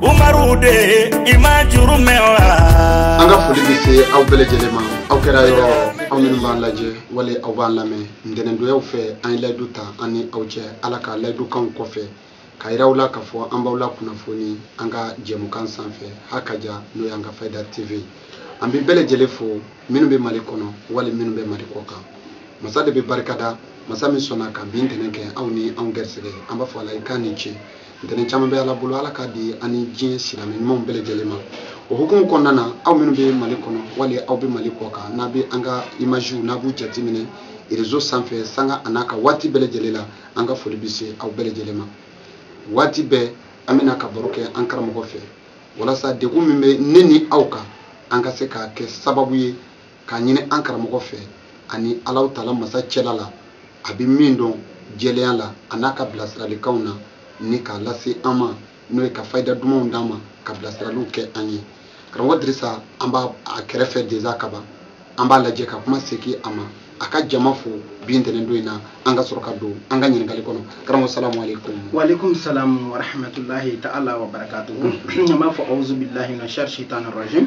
umaru de i ma juru mɛn wa an ka foli bɛ se aw bɛɛ lajɛlen ma aw kɛra yɔrɔ aw minnu b'an lajɛ wali aw b'an lamɛn ntɛnɛndonyaw fɛ an ye layidu ta an ni aw cɛ ala ka layidukanw kɔfɛ k'a yira aw la k'a fɔ an b'aw la kunnafoni an ka jɛmukan sanfɛ hakaja n'o y'an ka fayida tv an bɛ bɛɛ lajɛlen fo minnu bɛ mali kɔnɔ wali minnu bɛ mali kɔ kan masa de bɛ barikada masa min sɔnna ka bi ntɛnɛn kɛ aw ni anw gɛrisɛgɛ an b'a fɔ ala ye k'a ni ce ntɛnɛn caman bɛ ala bolo ala k'a di an ni diɲɛ silamɛ ɲumanw bɛɛ lajɛlen ma o hukumu kɔnɔna na aw minnu bɛ mali kɔnɔ wali aw bɛ mali kɔ kan n'a bɛ an ka imaziw n'a b'u jateminɛ rezo sanfɛ sanga an'a ka waati bɛɛ lajɛlen la an ka foli bɛ se aw bɛɛ lajɛlen ma waati bɛɛ an bɛna ka baro kɛ an karamɔgɔ fɛ walasa degun min bɛ ne ni aw kan an ka se k'a kɛ sababu ye k'a ɲini an karamɔgɔ fɛ ani alahu taala masa cɛla la a bɛ min dɔn jɛlenya la an'a ka bilasiralikanw na ni k'a lase an ma n'o ye ka fayida dumanw d'an ma ka bilasiraliw kɛ an ye karamɔgɔ dirisa an b'a kɛrɛfɛ deza kaban an b'a lajɛ ka kuma segin a ma a ka jama fo bi ntɛnɛn don in na an ka sɔrɔ ka don an ka ɲininkali kɔnɔ karamɔgɔ salamu aleykum waaleykum salamu warahmatulahi taala wa barakatuhu an b'a fɔ awuzubilahi mina shari shitani rajim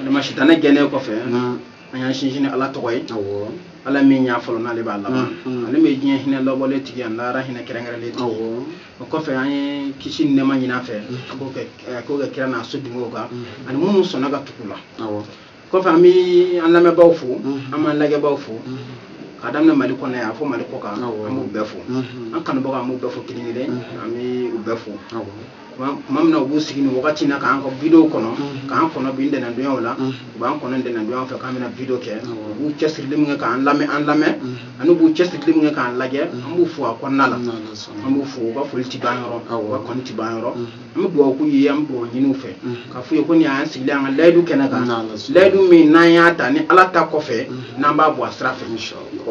adama sitanɛ gɛnnen kɔfɛ an y'an sinsin ni ala tɔgɔ ye ala min y'a fɔlɔ n'ale b'a laban ale min ye diɲɛ hinɛ labɔlen tigi ani lahara hinɛ kɛrɛnkɛrɛnlen tigi o kɔfɛ an ye kisi ni nɛɛma ɲin'a fɛ a k'o kɛ kira n'a so dungew kan ani minnu sɔnna ka tugu u la kɔfɛ an bɛ an lamɛnbaaw fo an b'an lajɛbaaw fo ka daminɛ mali kɔnɔ yan fo mali kɔ kan an b'u bɛɛ fo an kanubaga an b'u bɛɛ fo kelen kelen an bɛ u bɛɛ fo tuma min na u b'u sigi nin wagati na k'an ka video kɔnɔ mm-hmm. k'an kɔnɔ bi ntɛnɛndonyaw la mm-hmm. u b'an kɔnɔ ntɛnɛndonyaw fɛ k'an bɛna video kɛ mm-hmm. u b'u cɛsirili min kɛ k'an lamɛn an lamɛn ani u b'u cɛsirili min kɛ k'an lajɛ an b'u fo a kɔnɔna la an b'u fo u ka foli ti ban yɔrɔ u ka kɔni ti ban yɔrɔ an bɛ dugawu k'u ye an bɛ dugawu ɲini u fɛ k'a f'u ye ko nin y'an sigilen an ka layidu kɛnɛ kan layidu min n'an y'a ta ni ala ta kɔfɛ n'an b'a bɔ a sira fɛ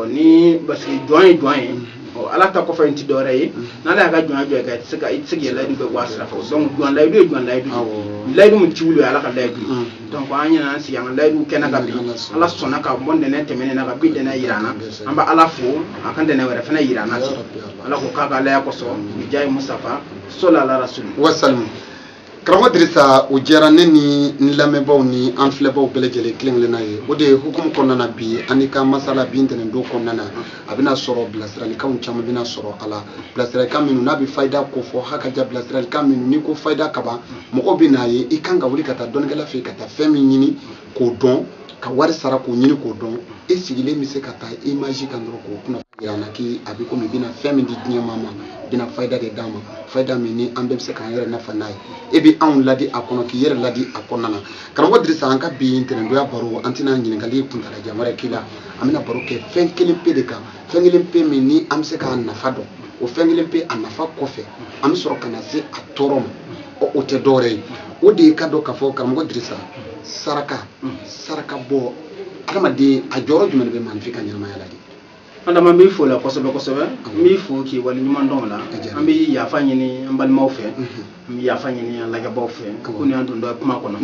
ni basigi jɔn ye jɔn ye ala ta kɔfɛ in ti dɔwɛrɛ ye n'ala y'a ka jɔnya jɔ ka i tɛ se ka i tɛ se k'i layidu bɛɛ bɔ a sira fɛ donc jɔn layidu ye jɔn layidu ye layidu min ti wuli ala ka layidu ye donc an nana an sigi an ka layidu kɛnɛ kan bi ala sɔnna ka bɔ ntɛnɛn tɛmɛnen na ka bi ntɛnɛn yira an na an bɛ ala fo a ka ntɛnɛn wɛrɛ fana yira an na ala k'o k'a ka alaya kosɔn bi jahi musitafa sɔli ala rasuli wasalim karamɔgɔ dirisa o diyara ne ni n lamɛnbaaw ni an filɛbaaw bɛɛ lajɛlen kelen kelenna ye o de hukumu kɔnɔna na bi an ni ka masala bi ntɛnɛndon kɔnɔna na a bɛna sɔrɔ bilasiralikanw caman bɛna sɔrɔ a la bilasiralikan minnu n'a bɛ fayida ko fɔ hakaja bilasiralikan minnu n'i ko fayida ka bon mɔgɔw bɛ n'a ye i kan ka wuli ka taa dɔnnikɛla fɛ yen ka taa fɛn min ɲini k'o dɔn ka wari sara k'o ɲini k'o dɔn e sigilen bɛ se ka taa image kan dɔrɔn k'o kunnafoni jira an na k'i a bɛ komi i bɛna fɛn min di diɲɛ maa ma i bɛna fayida de d'a ma fayida min ni an bɛɛ bɛ se k'an yɛrɛ nafa n'a ye e bɛ anw ladi a kɔnɔ k'i yɛrɛ ladi a kɔnɔna na karamɔgɔ Dirisa an ka bi ntɛnɛndonya baro an tɛna ɲininkali kuntaalajan wɛrɛ k'i la an bɛna baro kɛ fɛn kelen pe de kan fɛn kelen pe min ni an bɛ se k'a nafa dɔn o fɛn kelen pe a nafa kɔfɛ an bɛ sɔrɔ ka na se a tɔɔrɔ ma o tɛ dɔwɛrɛ ye o de ye k'a dɔn k'a fɔ karamɔgɔ dirisa saraka saraka bɔ adamaden a jɔyɔrɔ jumɛn de bɛ maaninfin ka ɲɛnamaya la de adama n b'i fo la kosɛbɛ kosɛbɛ n b'i fo k'i wale ɲuman dɔn o la an bɛ yafa ɲini an balimaw fɛ an bɛ yafa ɲini an lajɛbaw fɛ ko ni an don dɔ kuma kɔnɔ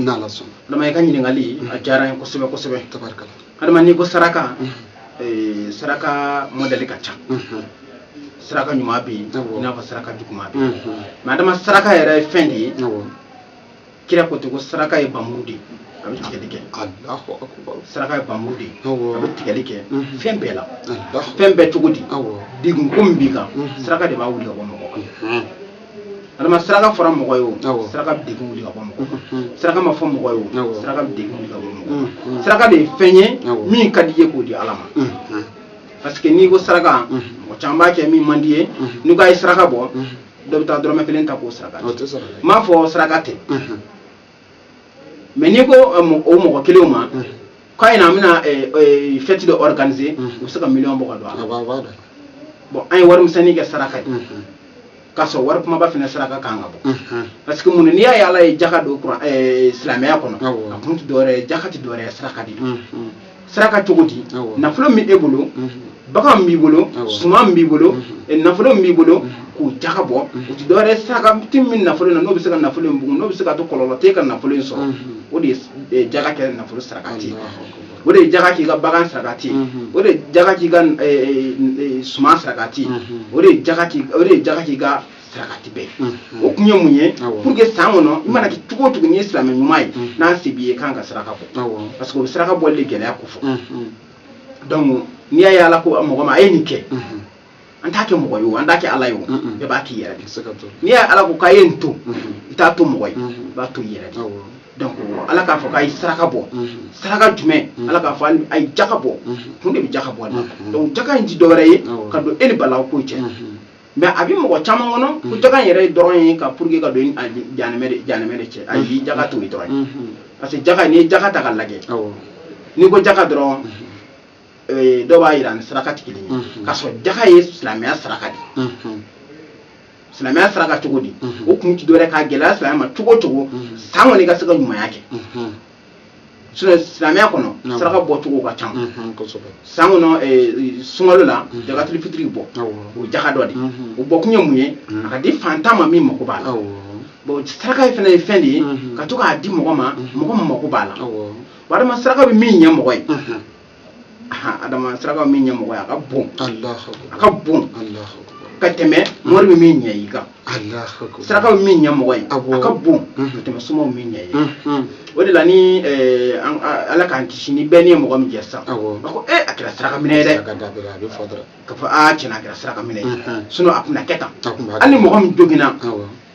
adama i ka ɲininkali a diyara n ye kosɛbɛ kosɛbɛ adama n'i ko saraka eh, saraka mɔdɛli ka ca saraka ɲuman bɛ yen i n'a fɔ saraka juguman bɛ yen mɛ adama saraka yɛrɛ ye fɛn de ye kira ko ten ko saraka ye bamuru de ye a bɛ tigɛli kɛ saraka ye bamuru de ye a bɛ tigɛli kɛ fɛn bɛɛ la fɛn bɛɛ cogo di degun ko min b'i kan saraka de b'a wuli ka bɔ mɔgɔ kan adama saraka fɔra mɔgɔ ye o saraka bɛ degun wuli ka bɔ mɔgɔ mm-hmm. saraka ma fɔ mɔgɔ ye o saraka bɛ degun wuli ka bɔ mɔgɔ mm-hmm. saraka de ye fɛn ye min ka d'i ye k'o di ala ma mm-hmm. parce que n'i ko saraka mɔgɔ caman b'a kɛ min man d'i ye n'i ko a ye saraka bɔ dɔ bɛ taa dɔrɔmɛ kelen ta ko saraka ti n m'a fɔ saraka tɛ mɛ n'i ko o mɔgɔ kelenw ma k'an bɛna fɛti dɔ organiser u bɛ se ka miliyɔn bɔ k'a don a la bɔn an ye wari misɛnnin kɛ saraka ye k'a sɔrɔ wari kumaba fana saraka kan ka bɔ parce que mun n'i y'a ye ala ye jaka don silamɛya kɔnɔ a kun tɛ dɔwɛrɛ jaka tɛ dɔwɛrɛ saraka de ye saraka cogo di nafolo min e bolo bagan b'i bolo suman b'i bolo nafolo b'i bolo k'o jaga bɔ o tɛ dɔwɛrɛ saraka ti min nafolo in n'o bɛ se ka nafolo in bugun n'o bɛ se k'a to kɔlɔlɔ t'e ka nafolo in sɔrɔ o de ye jaga kɛ nafolo saraka ti o de ye jaga k'i ka bagan saraka ti o de jaga k'i ka suman saraka ti o de jaga k'i ka saraka ti bɛɛ o kun ye mun ye pour que san kɔnɔ i mana kɛ cogo o cogo n'i ye silamɛ ɲuman ye ni se b'i ye i kan ka saraka bɔ parce que o bɛ saraka bɔli de gɛlɛya ko fɔ donc n'i y'a ye ala ko mɔgɔ ma a ye nin kɛ an t'a kɛ mɔgɔ ye o an t'a kɛ ala ye o bɛɛ b'a k'i yɛrɛ de n'i y'a ye ala ko k'a ye nin to i t'a to mɔgɔ ye i b'a to i yɛrɛ de donc ala k'a fɔ k'a ye saraka bɔ saraka jumɛn ala k'a fɔ a ye jaka bɔ kun de bɛ jaka bɔ a la donc jaka in tɛ dɔwɛrɛ ye ka don e ni balaw ko cɛ mɛ a bɛ mɔgɔ caman kɔnɔ ko mm. jaga yɛrɛ dɔrɔn ye ka pour que ka don janɛmɛ de cɛ ayi jaga mm. t'o dɔrɔn ye mm-hmm. parce que jaga n'i ye jaga ta k'a lajɛ n'i ko jaga dɔrɔn mm-hmm. eh, dɔw b'a yira ni saraka tɛ kelen ye mm-hmm. k'a sɔrɔ jaga ye silamɛya saraka de silamɛya saraka cogo di o kun tɛ dɔwɛrɛ k'a gɛlɛya silamɛ ma cogo o cogo san kɔnɔ i ka se ka ɲumanya kɛ silamɛya kɔnɔ saraka bɔcogo ka ca san kɔnɔ eh, sunkalo la jagatili fitiri bɛ bɔ o jaga dɔ de o bɔkun ye mun ye a ka di fantan ma min mako b'a la bon saraka fana ye fɛn de ye ka to k'a di mɔgɔ ma mɔgɔ min mako b'a la adama saraka bɛ min ɲɛ mɔgɔ ye adama saraka min ɲɛ mɔgɔ ye a ka bon a ka bon ka tɛmɛ mori bɛ min ɲɛ i kan saraka bɛ min ɲɛ mɔgɔ ye a ka bon ka tɛmɛ somaw min ɲɛ i ye o de la ni ala k'an kisi ni bɔnɛ ye mɔgɔ min jɛ sisan a ko ee a kɛra saraka minɛ ye dɛ ka fɔ aa tiɲɛ a kɛra saraka minɛ ye sinon a tun na kɛ tan hali ni mɔgɔ min joginna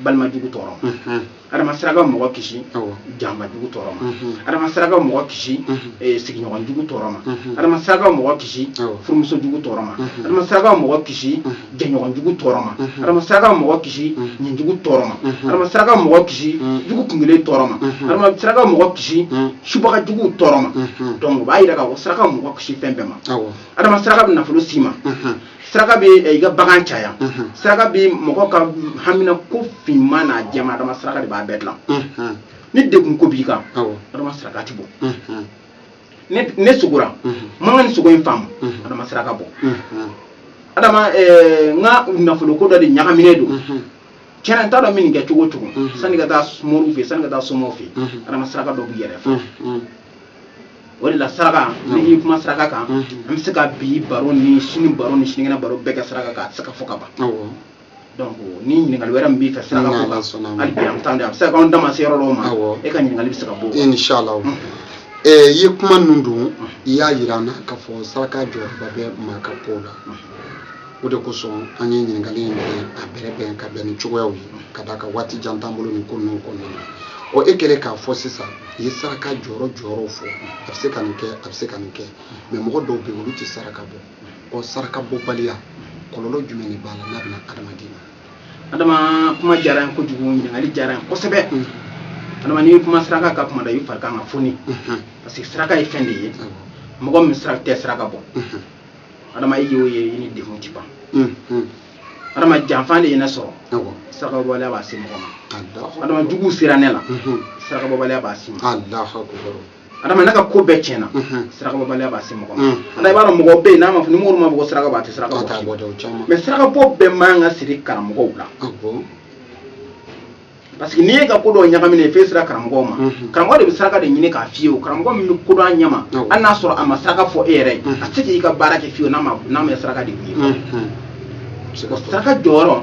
balima jugu tɔɔrɔ ma mhm. adama saraka mɔgɔ kisi janba jugu tɔɔrɔ ma mhm. adama saraka mɔgɔ kisi mhm. eh, sigiɲɔgɔn jugu tɔɔrɔ ma adama saraka mɔgɔ kisi furumuso jugu tɔɔrɔ ma adama saraka mɔgɔ kisi jɛɲɔgɔn jugu tɔɔrɔ ma adama saraka mɔgɔ kisi nin jugu tɔɔrɔ ma adama saraka mɔgɔ kisi jugu kungɛlɛn tɔɔrɔ ma adama saraka mɔgɔ kisi subaga juguw tɔɔrɔ ma donc o b'a yira k'a fɔ saraka mɔgɔ kisi fɛn bɛɛ ma adama saraka bɛ nafolo s'i ma saraka bɛ eh, i ka bagan caya mhm. saraka bɛ mɔgɔ ka hamina ko finman n'a jɛman adama saraka de b'a bɛɛ dilan mhm. ni degun ko b'i kan adama saraka de bɔ mhm. ne sugora n ma n ka nin sugo in faamu adama saraka bɔ adama eh, n ka nafoloko dɔ de ɲagaminen don tiɲɛ na n t'a dɔn min kɛ cogo o cogo sanni ka taa moriw fɛ sanni ka taa somaw fɛ adama saraka dɔ b'i yɛrɛ fɛ o de la saraka n'i kuma saraka kan an bɛ se ka bi baro ni sini baro ni sinikɛnɛ baro bɛɛ kɛ saraka kan a tɛ se ka fɔ ka ban donc ni ɲininkali wɛrɛ min b'i fɛ saraka ko kan hali bi an bɛ taa a bɛ se ka k'an da ma se yɔrɔ dɔw ma e ka ɲininkali bɛ se ka bɔ o kan inshallah i ye kuma ninnu don i y'a jira an na k'a fɔ saraka jɔyɔrɔba bɛ maa ka kow la o de kosɔn an ye ɲininkali in bɛn a bɛrɛbɛn ka bɛn ni cogoyaw ye ka d'a kan waati jan t'an bolo nin ko ninnu kɔnɔna na ɔ e kɛlen k'a fɔ sisan i ye saraka jɔyɔrɔ jɔyɔrɔw fɔ a bɛ se ka nin kɛ a bɛ se ka nin kɛ mais mɔgɔ dɔw bɛ yen olu tɛ saraka bɔ ɔ saraka bɔbaliya kɔlɔlɔ jumɛn de b'a la n'a bɛ na adamaden ma adama kuma diyara n ye kojugu ɲininkali diyara n ye kosɛbɛ adama n'i kuma saraka ka kuma da i fari kan ka foni parce que saraka ye fɛn de ye mɔgɔ min saraka tɛ saraka bɔ adama i y'o ye i ni degun ti ban adama janfa de ye ne sɔrɔ sarakabɔbaliya b'a se mɔgɔ ma adama juguw sera ne la sarakabɔbaliya b'a se ma adama ne ka ko bɛɛ tiɲɛna sarakabɔbaliya b'a se mɔgɔ ma ala i b'a dɔn mɔgɔ bɛ yen n'a ma fɔ ni mori m'a fɔ saraka bɔ a tɛ saraka bɔ mais sarakabɔ bɛɛ man ka siri karamɔgɔw la parce que n'i y'i ka ko dɔw ɲagaminen ye fɛn sera karamɔgɔw ma mhm. karamɔgɔ de bɛ saraka de ɲini k'a f'i ye o karamɔgɔ min bɛ ko dɔn a ɲɛma hali n'a sɔrɔ a ma saraka fɔ e yɛrɛ ye mhm. a tɛ se k'i ka baara kɛ fiyewu n'a ma n'a ma saraka de ye mhm. o saraka jɔyɔrɔ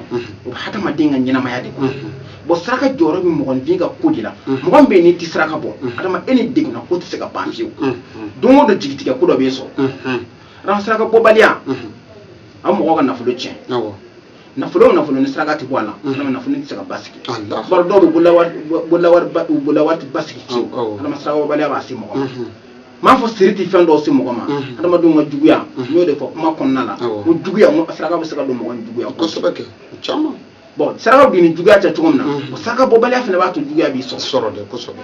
o bɛ hadamaden ka ɲɛnamaya de kɔnɔ bɔn saraka jɔyɔrɔ bɛ mɔgɔninfin ka ko de la mɔgɔ min bɛ yen n'i tɛ saraka bɔ adama e ni degunna ko tɛ se ka ban fiyewu don o don jigitigɛ ko dɔ b'i sɔrɔ adama saraka bɔbaliya a mɔgɔ ka nafolo tiɲɛ nafolo o nafolo ni saraka ti bɔ a la adama mm. nafolo ti se ka basigi baro dɔw bɛ bololawari ti basigi fiyewu adama sarakabaliya b'a se mɔgɔ ma mm-hmm. m'a fɔ siri ti fɛn dɔw se mɔgɔ ma mm-hmm. adamadenw ka juguya n mm-hmm. y'o de fɔ kuma kɔnɔna la ko juguya n ko saraka bɛ se ka don mɔgɔ ni juguya kosɛbɛ kɛ o caman bɔn saraka bɛ don i ni juguya cɛ cogo min na o saraka bɔbaliya fana b'a to juguya b'i sɔrɔ sɔrɔ dɛ kosɛbɛ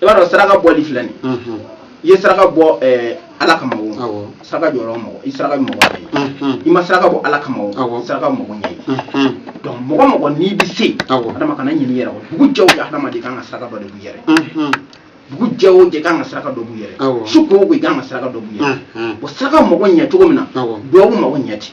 i b'a dɔn saraka bɔli fila nin mhm. i ye saraka bɔ eh, ala kama o saraka jɔyɔrɔ mɔgɔ i saraka bɛ mɔgɔ ye mhm. i ma saraka bɔ ala kama o saraka bɛ mɔgɔ ɲɛ ye mhm. donc mɔgɔ mɔgɔ n'i bɛ se adama kana ɲin'i yɛrɛ kɔ dugu jɛ o jɛ adamaden kan ka saraka dɔ de bɔ i yɛrɛ dugu jɛ o jɛ kan ka saraka dɔ bɔ i yɛrɛ su ko o ko i kan ka saraka dɔ bɔ i yɛrɛ o saraka mɔgɔ ɲɛ cogo min na duwawu mɔgɔ ɲɛ ten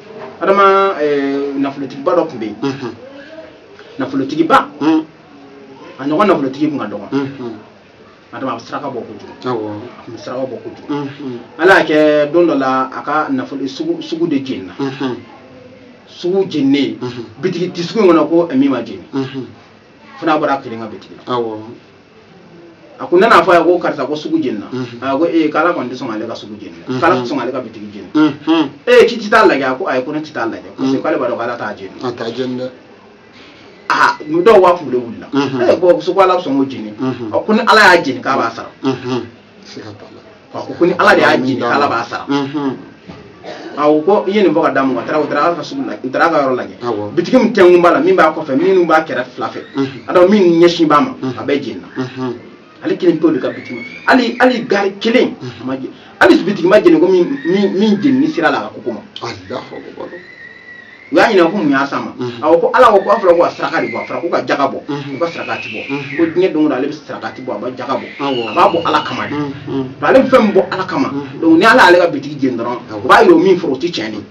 adama eh, nafolotigiba dɔ tun bɛ yen mhm. nafolotigiba mhm. a ɲɔgɔn nafolotigi tun ka dɔgɔn mhm. adama a bɛ saraka bɔ kojugu a tun bɛ saraka bɔ kojugu ala y'a kɛ don dɔ la a ka nafolo sugu de jenina sugu jeninen bitigi ti sugu in kɔnɔ ko min ma jeni fo n'a bɔra a kelen ka bitigi la a ko u nan'a fɔ a ye ko karisa ko sugu jenina mhm. a ko ee k'ala kɔni tɛ sɔn ale ka sugu jeni dɛ mhm. k'ala tɛ sɔn ale ka bitigi jeni mhm. ee k'i tɛ taa lajɛ a ko ayi ko ne tɛ taa lajɛ parce que k'ale b'a dɔn k'ala t'a jeni a t'a jeni dɛ aa dɔw k'a kunkolo wulila ee bɔn muso ko ala sɔn k'o jeni ko ni ala y'a jeni k'a b'a sara ko ni ala de y'a jeni ala b'a sara a ko ko i ye nin bɔ ka d'a ma taara o taara ala ka sugu la u taara a ka yɔrɔ lajɛ bitigi min tɛnkun b'a la min b'a kɔfɛ minnu b'a kɛrɛ fila fɛ a da min ɲɛsin b'a ma a bɛɛ jenina ale kelen pe de ka bitigi ma hali hali gaari kelen a ma jeni hali bitigi ma jeni ko min jenini sera ale ka koko ma u y'a ɲininka ko mun y'a s'a ma a ko ko ala ko ko a fɔra ko a saraka de bɔ a fɔra ko ka jaga bɔ ko ka sarakati bɔ ko diɲɛ don o don ale bɛ sarakati bɔ a bɛ jaga bɔ a b'a bɔ ala kama de nka ale bɛ fɛn min bɔ ala kama donc ni ala y'ale ka bitigi jeni dɔrɔn o b'a yira o min fɔra o tɛ tiɲɛ ye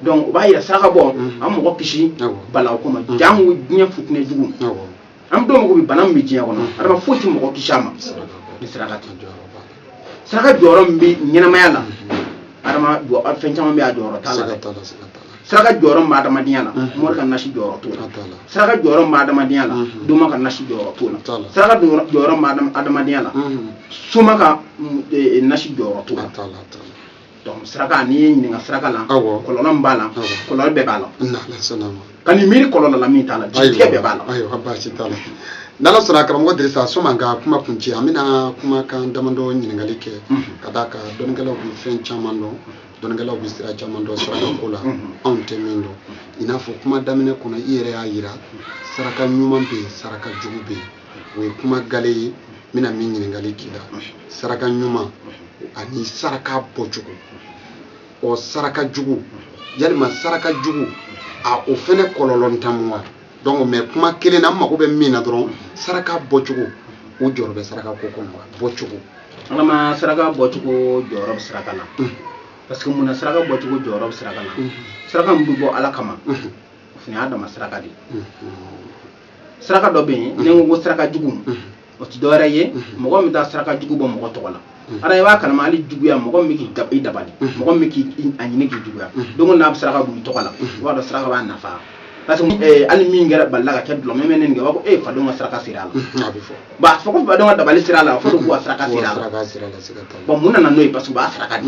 donc o b'a yira saraka bɔ a mɔgɔ kisi balawu ko ma jango diɲɛ futinɛ jugu an dɔw mago bɛ bana min bɛ diɲɛ kɔnɔ adama foyi tɛ mɔgɔ kisi a ma ni saraka tɛ saraka jɔyɔrɔ min bɛ ɲɛnamaya la adama fɛn caman bɛ a jɔyɔrɔ t'a la dɛ saraka jɔyɔrɔ min bɛ adamadenya la mori ka nasi jɔyɔrɔ t'o la saraka jɔyɔrɔ min bɛ adamadenya la doma ka nasi jɔyɔrɔ t'o la saraka jɔyɔrɔ min bɛ adamadenya la soma ka nasi jɔyɔrɔ t'o la donc saraka n'i ye ɲininka saraka la kɔlɔlɔ min b'a la kɔlɔlɔ bɛɛ b'a la kan'i miiri kɔlɔlɔ la min t'a la jitigɛ bɛɛ b'a la ayiwa baasi t'a la n'ala sɔnna karamɔgɔ dirisa sɔmi an ka kuma kuncɛ an bɛna kumakan damadɔ ɲininkali kɛ ka d'a kan dɔnnikɛlaw bɛ fɛn caman dɔn dɔnnikɛlaw bɛ sira caman dɔn saraka ko la anw tɛ min dɔn i n'a fɔ kuma daminɛ kɔnɔ i yɛrɛ y'a jira saraka ɲuman bɛ yen saraka jugu bɛ yen o ye kuma gale ye n bɛna min ɲininkali k'i la saraka ɲuman ani saraka bɔcogo ɔ saraka jugu yalima saraka jugu a o fɛnɛ kɔlɔlɔntan mu wa donc mais kuma kelen na n mago bɛ min na dɔrɔn saraka bɔcogo o jɔyɔrɔ bɛ saraka ko kɔnɔ wa bɔcogo adama saraka bɔcogo jɔyɔrɔ bɛ saraka na mm. parce que mun na saraka bɔcogo jɔyɔrɔ bɛ saraka na mm. saraka min bɛ bɔ ala kama mm. o fana y'a dama saraka de ye saraka dɔ bɛ yen n'i ko saraka jugu o tɛ dɔwɛrɛ ye mɔgɔ min taa saraka jugu bɔ mɔgɔ tɔgɔ la ara i b'a kalama hali juguya mɔgɔ min k'i dabali mɔgɔ min k'i a ɲini k'i juguya donc n'a bɛ saraka b'i tɔgɔ la i b'a dɔn saraka b'a nafa parce que eh, hali min kɛra balila ka kɛ dulɔ min mɛ ne nin kɛ b'a fɔ ee fadenw ka saraka sera a la a bɛ fɔ bon a fɔ ko fadenw ka dabali sera a la fɔ de k'u ka saraka sera a la bon mun nana n'o ye parce que u b'a saraka de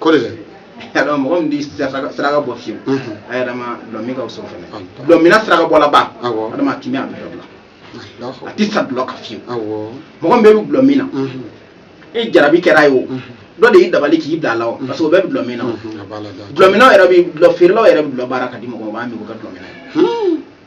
ko de la dɔn mɔgɔ min di saraka bɔ fiyewu adama dulɔ min ka o sɔrɔ fɛnɛ dulɔ minna saraka bɔla ba adama a kimi a bɛ dɔ a ti sa dulɔ ka fiyewu mɔgɔ min bɛ bi dulɔ min na i jarabi kɛra a ye o dɔ de y'i dabali k'i bila a la o parce que o bɛɛ bɛ dulɔ min na dulɔ minnaw yɛrɛ bi dulɔ feerelaw yɛrɛ bi dulɔ baara ka di mɔgɔ ma o b'a min o ka dulɔ minna ye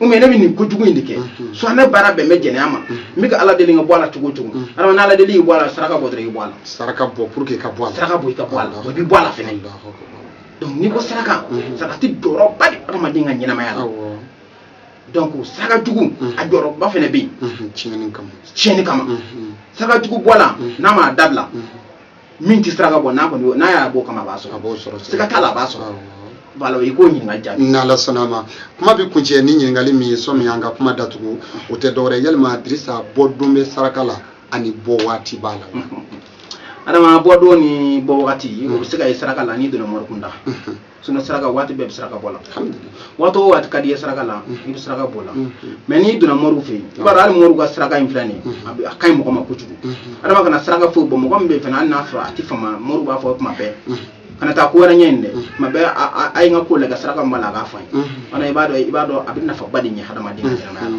u ne bɛ nin kojugu in de kɛ so ne baara bɛn bɛ jɛnɛya ma n bɛ ka ala deli n ka bɔ a la cogo cogo adama ala deli i bɔ a la saraka bɔ i bɔ a la saraka bɔ pour que ka bɔ a la saraka bɔ i ka bɔ a la o bɛ bɔ a la fɛnɛ donc n'i ko saraka saraka tɛ jɔyɔrɔba de adamaden ka ɲɛnamaya la donc saraka jugu a jɔyɔrɔba fɛnɛ bɛ yen tiɲɛni kama tiɲɛni kama saraka jugu bɔla n'a m'a dabila min tɛ saraka bɔ n'a kɔni n'a y'a bɔ kama a b'a sɔrɔ a b'o sɔrɔ siga t'a la a b'a sɔrɔ voilà i ka ɲininkali jaabi n'ala sɔnna a ma kuma bɛ kuncɛ ni ɲininkali min ye sɔmi an ka kuma datugu o tɛ dɔwɛrɛ yalima dirisa bɔ don bɛ saraka la ani bɔ waati b'a la adama bɔ don ni bɔ wagati o bɛ se ka ye saraka la n'i donna mɔrikunda sinon saraka waati bɛɛ bɛ saraka bɔ la waati o waati ka di i ye saraka la i bɛ saraka bɔ la mais n'i donna mɔriw fɛ yen i b'a dɔn hali mɔriw ka saraka in filɛ nin ye a bɛ- a ka ɲi mɔgɔ ma kojugu adama kana saraka foyi bɔ mɔgɔ min bɛ yen fana hali n'a sɔrɔ a tɛ fama mɔriw b'a fɔ tuma bɛɛ kana taa ko wɛrɛ ɲɛ nin dɛ tuma bɛɛ a- a- a ye n ka ko lajɛ saraka min b'a la a k'a fɔ n ye wala i b'a dɔn i b'a dɔn a bɛ nafaba de ɲɛ hadamaden ka ɲɛnamaya la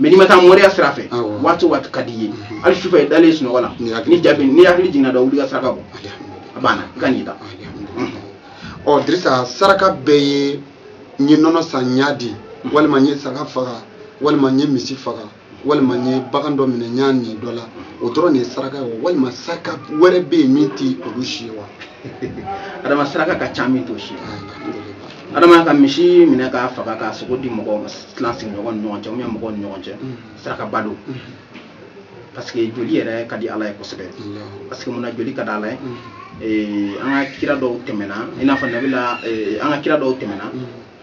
mais n'i ma taa mɔriya sira fɛ waati o waati ka di i ye hali sufɛ i dalen sunɔgɔ la ni jaabi n'i hakili jiginna dɔ wuli ka saraka bɔ a banna i ka n'i da ɔ dirisa saraka bɛɛ ye n ye nɔnɔ san n y'a di walima n ye saga faga walima n ye misi faga walima n ye bagan dɔ minɛ n y'a ni dɔ la o dɔrɔn de ye saraka ye wa walima saraka wɛrɛ bɛ yen min tɛ olu si ye wa adama saraka ka ca min t'o si ye adama ka misi minɛ k'a faga k'a sogo di mɔgɔw ma tilan sigiɲɔgɔn ni ɲɔgɔn cɛ ou bien mɔgɔw ni ɲɔgɔn cɛ sarakaba don parce que joli yɛrɛ ka di ala ye kosɛbɛ parce que mun na joli ka di ala ye eh, an ka kira dɔw tɛmɛna i n'a fɔ nabila eh, an ka kira dɔw tɛmɛna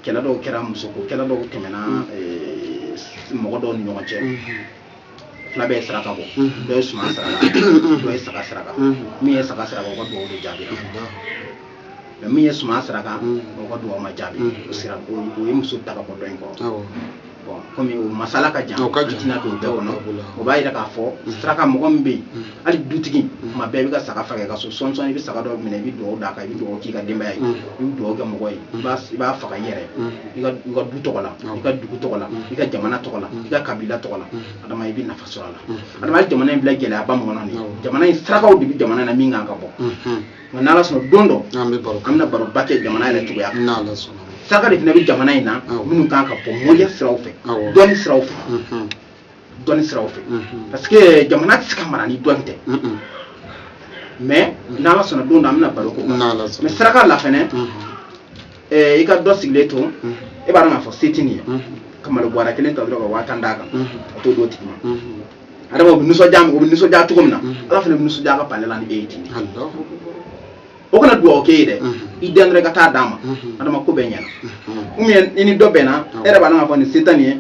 kɛlɛ dɔw kɛra musoko kɛlɛ dɔw tɛmɛna eh, mɔgɔ dɔw ni ɲɔgɔn cɛ fila bɛɛ ye saraka bɔ dɔ ye suman saraka dɔ ye saga saraka min ye saga saraka o ka dugawu de jaabi mais min ye suman saraka o ka dugawu ma jaabi o sira o ye muso ta ka bɔ dɔ in kɔrɔ bon comme o masala ka jan an tɛna don bɛɛ kɔnɔ o b'a yira k'a fɔ saraka mɔgɔ min bɛ yen hali dutigi kuma bɛɛ i bɛ ka saga faga i ka so san o san i bɛ saga dɔ minɛ i bɛ dugawu d'a kan i bɛ dugawu k'i ka denbaya ye i bɛ dugawu kɛ mɔgɔ ye i b'a faga i yɛrɛ i ka du tɔgɔ la i ka dugu tɔgɔ la i ka jamana tɔgɔ la i ka kabila tɔgɔ la adama i bɛ nafa sɔrɔ a la adama ye jamana in bila gɛlɛyaba min kɔnɔ nin jamana in sarakaw de bɛ jamana na min kan ka bɔ nka n'ala sɔnna don dɔ an bɛna baroba kɛ jamana yɛrɛ cogoya saraka de fana bɛ jamana in na minnu kan ka bɔ mɔriya siraw fɛ dɔnni siraw fɛ dɔnni siraw fɛ parce que jamana tɛ se ka mara ni dɔnni tɛ mais n'ala sɔnna don dɔ an bɛna baro k'o kan mais saraka la fɛnɛ i ka dɔ sigilen to e b'a dɔn k'a fɔ se tɛ nin ye ka malo bɔrɛ kelen ta dɔrɔn ka waa tan d'a kan a t'o d'o tigi ma adama o bɛ nisɔndiya o bɛ nisɔndiya cogo min na ala fana bɛ nisɔndiya ka pale la ni e ye ten o kana dugawu k'e ye dɛ i dɛnkɛrɛ ka taa d'a ma adama ko bɛɛ ɲɛna ou bien i ni dɔ bɛnna e yɛrɛ b'a dɔn k'a fɔ nin se tɛ nin ye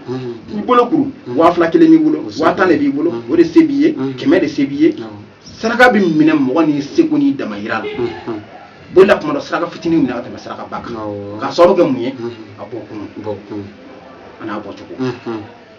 i bolo kuru waa fila kelen b'i bolo waa tan de b'i bolo o de se b'i ye kɛmɛ de se b'i ye saraka bɛ minɛ mɔgɔ n'i seko n'i damayira la voilà tuma dɔ saraka fitinin minɛ ka tɛmɛ sarakaba kan k'a sababu kɛ mun ye a bɔkun an'a bɔcogo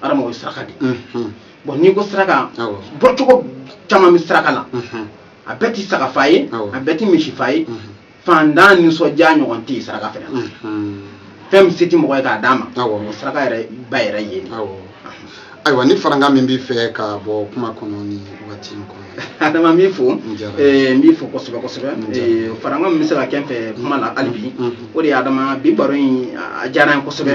adama o ye saraka de ye bon n'i ko saraka bɔcogo caman bɛ saraka la a bɛɛ ti saga fa ye a bɛɛ ti misi fa ye faantan nisɔndiya ɲɔgɔn tɛ yen saraka fɛnɛ na fɛn min se ti mɔgɔ ye k'a d'a ma o saraka yɛrɛ ba yɛrɛ ye dɛ ayiwa ni farankan min b'i fɛ ka bɔ kuma kɔnɔ nin wagati in kɔnɔ adama n b'i fo n b'i fo kosɛbɛ kosɛbɛ farankan min bɛ se ka kɛ n fɛ kuma la hali bi o de ye adama bi baro in a diyara n ye kosɛbɛ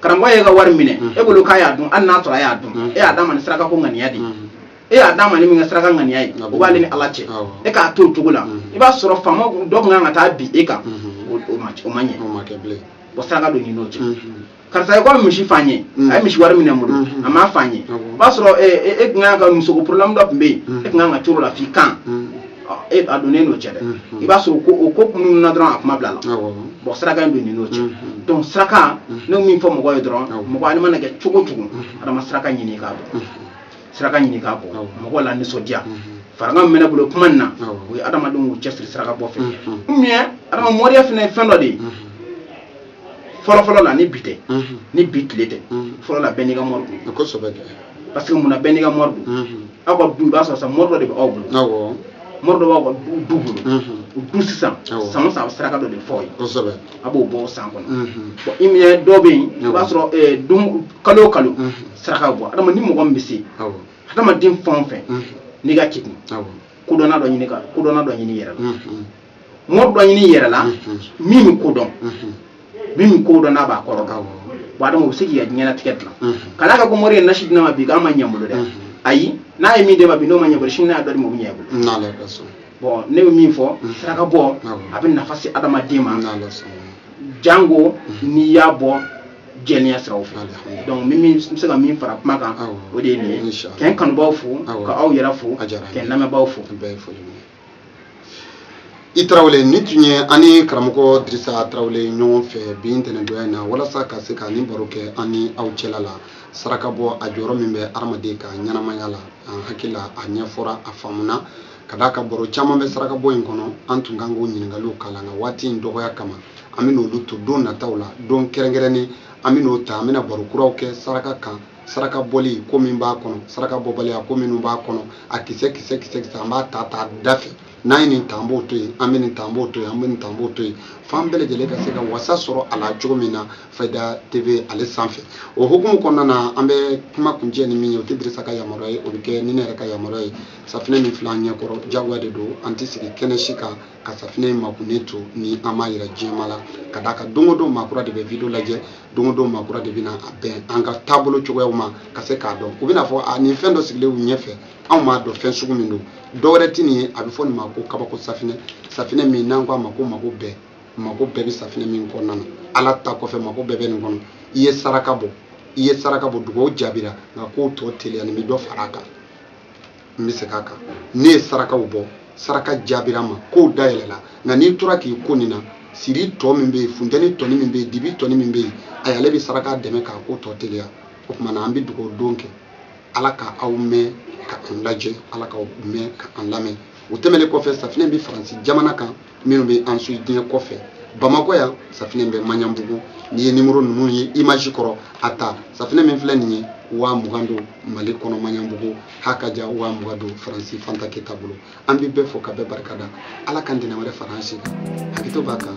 karamɔgɔ y'e ka wari minɛ e bolo k'a y'a dun hali n'a sɔrɔ a y'a dun e y'a d'a ma ni saraka ko ŋaniya de e y'a d'a ma n'i ka saraka ŋaniya ye o b'ale ni ala cɛ e k'a to o cogo la i b'a sɔrɔ faama dɔ tun kan ka taa bin e kan o ma ɲɛ o saraka donnen n'o cɛ karisa ko misi faa n ye a ye misi wari minɛ n bolo a m'a faa n ye o b'a sɔrɔ e tun kan ka musoko porobilɛmu dɔ tun bɛ yen e tun kan ka coro la f'i kan e a donnen n'o cɛ dɛ i b'a sɔrɔ ko o ko minnu na dɔrɔn a kuma bila la bon saraka in donnen n'o cɛ donc saraka ne min fɔ mɔgɔ ye dɔrɔn mɔgɔ ale mana kɛ cogo o cogo adama saraka ɲini k'a bɔ saraka ɲini k'a bɔ mɔgɔ la nisɔndiya farankan min bɛ ne bolo kuma nin na o ye adamadenw k'u cɛsiri saraka bɔ fɛ ou bien adama moriya fana ye fɛn dɔ de ye fɔlɔfɔlɔ la ni bi tɛ ni bi tile tɛ fɔlɔ la bɛɛ n'i ka mori don kosɛbɛ parce que munna bɛɛ n'i ka mori don aw ka du i b'a sɔrɔ sa mori dɔ de bɛ aw bolo mori dɔ b'aw ka du bolo o du sisan san o san a bɛ saraka dɔ de f'o ye kosɛbɛ a b'o bɔ o san kɔnɔ bon i minɛ dɔw bɛ yen i b'a sɔrɔ dun kalo o kalo saraka bɔ adama ni mɔgɔ min bɛ se adamaden fɛn o fɛn n'i ka kekun kodɔnna dɔ ɲini ka kodɔnna dɔ ɲini i yɛrɛ la mori dɔ ɲini i yɛrɛ la min bɛ ko dɔn min bɛ ko dɔn n'a b'a kɔrɔ kan bon adama o bɛ se k'i ka diɲɛnatigɛ dilan ka d'a kan ko mori ye nasi di ne ma bi k'a ma ɲɛ n bolo dɛ ayi n'a ye min d'e ma bi n'o ma ɲɛ i bolo sini n'a dɔ d'i ma o bɛ ɲɛ i bolo bon ne bɛ min fɔ saraka bɔ a bɛ nafa se adamaden ma jango n'i y'a bɔ jɛlenya siraw fɛ donc ne bɛ se ka min fara kuma kan o de ye nin ye k'an kanubaaw fo ka aw yɛrɛ fo k'an lamɛnbaaw fo i tarawele nin tun ye an ni karamɔgɔ dirisa tarawele ɲɔgɔn fɛ bi ntɛnɛdonya in na walasa ka se ka nin baro kɛ an ni aw cɛla la saraka bɔ a jɔyɔrɔ min bɛ adamaden ka ɲɛnamaya la an hakili la a ɲɛfɔra a faamuna ka d'a kan baro caman bɛ saraka bɔ in kɔnɔ an tun kan k'o ɲininkaliw kalan nka waati in dɔgɔya kama an bɛn'olu to don nataw la don kɛrɛnkɛrɛnnen an bɛn'o ta an bɛna baro kuraw kɛ saraka kan saraka bɔli ko min b'a kɔnɔ saraka bɔbaliya ko minnu b'a kɔnɔ a kisɛ kisɛ kisɛ kisɛ an b'a ta ta da fɛ n'an ye nin ta an b'o to yen an bɛ nin ta an b'o to yen an bɛ nin ta an b'o to yen f'an bɛɛ lajɛlen ka se ka wasa sɔrɔ a la cogo min na fayida tv ale sanfɛ o hukumu kɔnɔna na an bɛ kuma kuncɛ ni min ye o tɛ dirisa ka yamaruya ye o bɛ kɛ ni ne yɛrɛ ka yamaruya ye safinɛ min filɛ an ɲɛ kɔrɔ diyagoya de don an tɛ sigi kɛnɛ si kan ka safinɛ in makunnen to ni an m'a yira jama la ka d'a kan don o don maa kura de bɛ video lajɛ don o don maa kura de bɛna a bɛn an ka taabolo cogoyaw ma ka se k'a dɔn u bɛn'a fɔ a nin fɛn dɔ sigilen u ɲɛfɛ anw m'a dɔn fɛn sugu min don dɔ wɛrɛ tɛ nin ye a bɛ fɔ nin ma ko kabako safinɛ safinɛ min n'an ko a ma ko mako bɛɛ mako bɛɛ bɛ safinɛ min kɔnɔna na ala ta kɔfɛ mako bɛɛ bɛ nin kɔnɔ i ye saraka bɔ i ye saraka bɔ dugawu jaabira nka k'o tɔ teliya nin bɛ dɔ fara a kan n bɛ segin a kan ne ye sarakaw bɔ saraka jaabira n ma kow dayɛlɛla nka n'i tora k'i ko nin na siri tɔ min bɛ yen funteni tɔni min bɛ yen dibi tɔni min bɛ yen a y'ale bɛ saraka dɛmɛ k'a ko tɔ teliya o tuma na an bɛ dugawu don kɛ ala ka aw mɛɛn ka an lajɛ ala ka aw mɛɛn ka an lamɛn o tɛmɛnen kɔfɛ safinɛ bɛ faransi jamana kan minnu bɛ an su diɲɛ kɔfɛ bamakɔ yan safinɛ bɛ maɲanbugu n'i ye nimɔrɔ ninnu ye image kɔrɔ a ta safinɛ min filɛ nin ye waa mugan don mali kɔnɔ maɲanbugu ha ka ja waa mugan don faransi fanta keyita bolo an bɛ bɛɛ fo ka bɛɛ barika da ala ka ntɛnɛn wɛrɛ fara an si kan hakɛto b'a kan